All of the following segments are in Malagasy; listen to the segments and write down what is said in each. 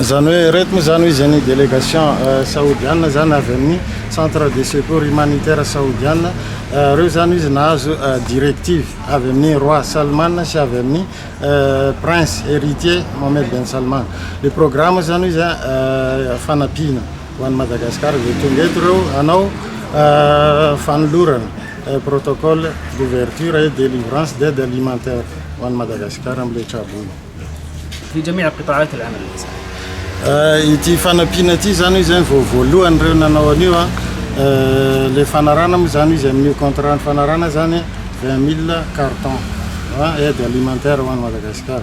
zany hoe reto moa zany hoe izy any délégation euh, saodiana zany avy amin'ny centre de secours humanitaire saodiana euh, reo zany izy nahazo euh, directive avy amin'ny roi salman sy avy amin'ny prince héritier mohamed ben salman le programme zany izy fanampiana Ho an'i Madagasikara izay tonga eto ireo hanao fanolorana, protocole d'ouverture et délivrance d'aide alimentaire ho an'i Madagasikara amin'ilay traboina. Vue de mer préparée de l'analyse. Ity fanampiana ity izany hoy izany vao voalohany ireo nanao an'io. Ilay fanarahana moa izany hoy izy amin'io contrat-n'ny fanarahana izany vingt mille cartons aide alimentaire ho an'i Madagasikara.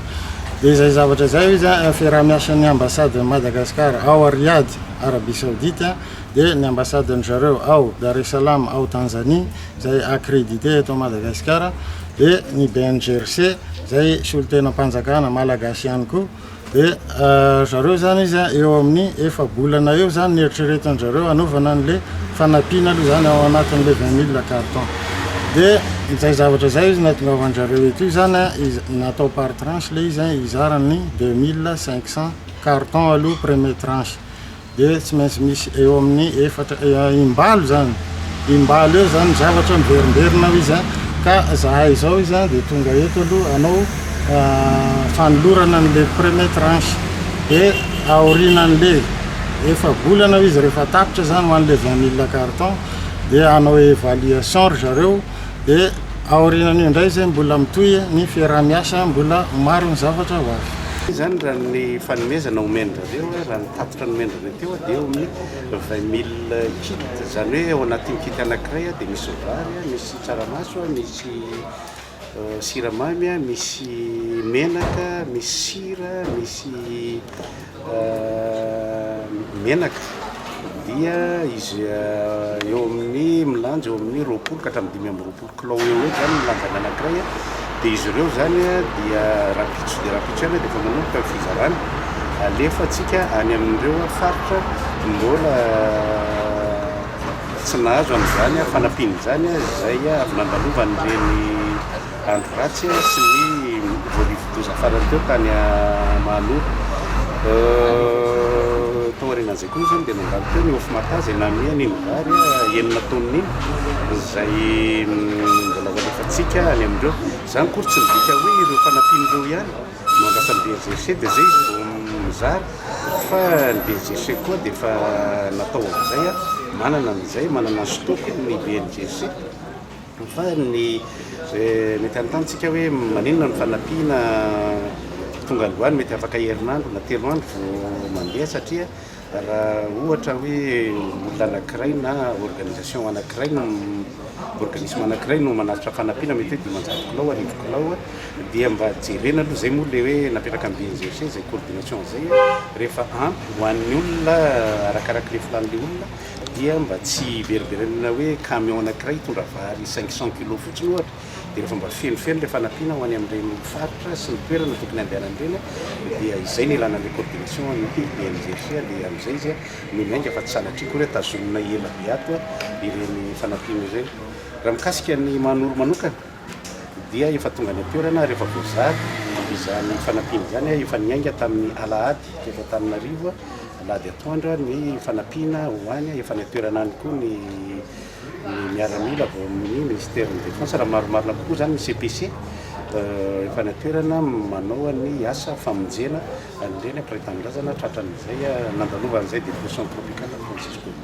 Dia izay zavatra izay hoy izy, fiaraha-miasan'ny ambasaden'i Madagasikara ao Riyadh, Arabia Saodita, dia ny ambasaden-dry zareo ao Dar es Salaam ao Tanzanie, izay accrédité eto Madagasikara, dia ny BNGRC, izay solontenam-panjakana malagasy ihany koa. Dia ry zareo izany izy eo amin'ny efa-bolana eo izany ny eritreretan-dry zareo hanaovana an'ilay fanampiana aloha izany ao anatin'ilay vingt mille cartons. dia izay zavatra izay izy nahatongavan-dry zareo eto izany natao par tranche ilay izy hizara ny deux mille cinq cent cartons aloha premier tranche dia tsy maintsy misy eo amin'ny efatra im-balo izany im-balo eo izany zavatra miverimberina ao izy ka izahay izao izy dia tonga eto aloha hanao fanolorana an'ilay premier tranche dia aorianan'ilay efa volana ao izy rehefa tapitra izany ho an'ilay vingt mille cartons dia hanao évaluation ry zareo dia aorianan'io indray zay mbola mitohy ny fiaraha-miasa mbola maro ny zavatra ho avy. Ity izany raha ny fanomezana omen-dRareo hoe raha ny tatitra nomen-dRareo teo dia eo amin'ny vingt mille kit, izany hoe ao anatin'ny kit anankiray dia misy vary, misy tsaramaso, misy siramamy a, misy menaka, misy sira, misy menaka dia izy eo amin'ny milanja eo amin'ny roapolo ka hatramin'ny dimy amby roapolo kilao eo eo zany ny lanjany anankiray a, dia izy ireo zany a dia rahampitso dia rahampitso ihany dia efa manomboka ny fizarana alefatsika any amin'ireo faritra mbola Tsy nahazo an'izany fanampiana izany aza izay avy nandalovan'ireny andro ratsy sy ny voarivodoza farany teo tany Mahanoro. Tao aorianan'izay koa moa izany dia nandalo teo ny Ofmata izay namihany iny vary enina taonina iny izay mbola ho alefantsika any amin'ireo. Izany akory tsy midika hoe ireo fanampiana ireo ihany Mampiasa ny BJC dia izay izy vao mizara fa ny BJC koa dia efa natao amin'izay, manana an'izay, manana ny stock-ny ny BNJC fa ny mety hanontany tsika hoe maninona no fanampiana tonga androany mety afaka herinandro na telo andro vao mandeha satria Raha ohatra hoe olona anankiray na organisation anankiray, organisme anankiray no manavotra fanampiana mety hoe dimanjato kilao, arivo kilao, dia mba jerena aloha, izay moa ilay hoe napetraka ny BNGFC izay coordination izay, rehefa ampy ho an'ny olona arakaraka ilay filan'ilay olona dia mba tsy hiveriberenana hoe camion anankiray hitondra vary cinq cent kilos fotsiny ohatra, dia rehefa mba fenofeno ilay fanampiana ho any amin'ireny faritra sy ny toerana tokony handehanany ireny dia izay no ilana an'ilay coordination an'ny DRDRG dia amin'izay izy no miainga fa tsy sanatria akory hoe tazonina ela be ato ireny fanampiana ireny. Raha mikasika ny Mahanoro manokana dia efa tonga any an-toerana ary efa voazara izany fanampiana izany, efa niainga tamin'ny alahady teto Antananarivo alahady atoandro ny fanampiana ho any, efa any an-toerana any koa ny ny miaramila avy ao amin'ny Minisiteran'ny Défense, raha marimarina kokoa izany ny CPC, efa any an-toerana manao ny asa famonjena an'ireny mpiray tanindrazana tratran'izay nandalovany an'izay dépression tropicale Francisco io.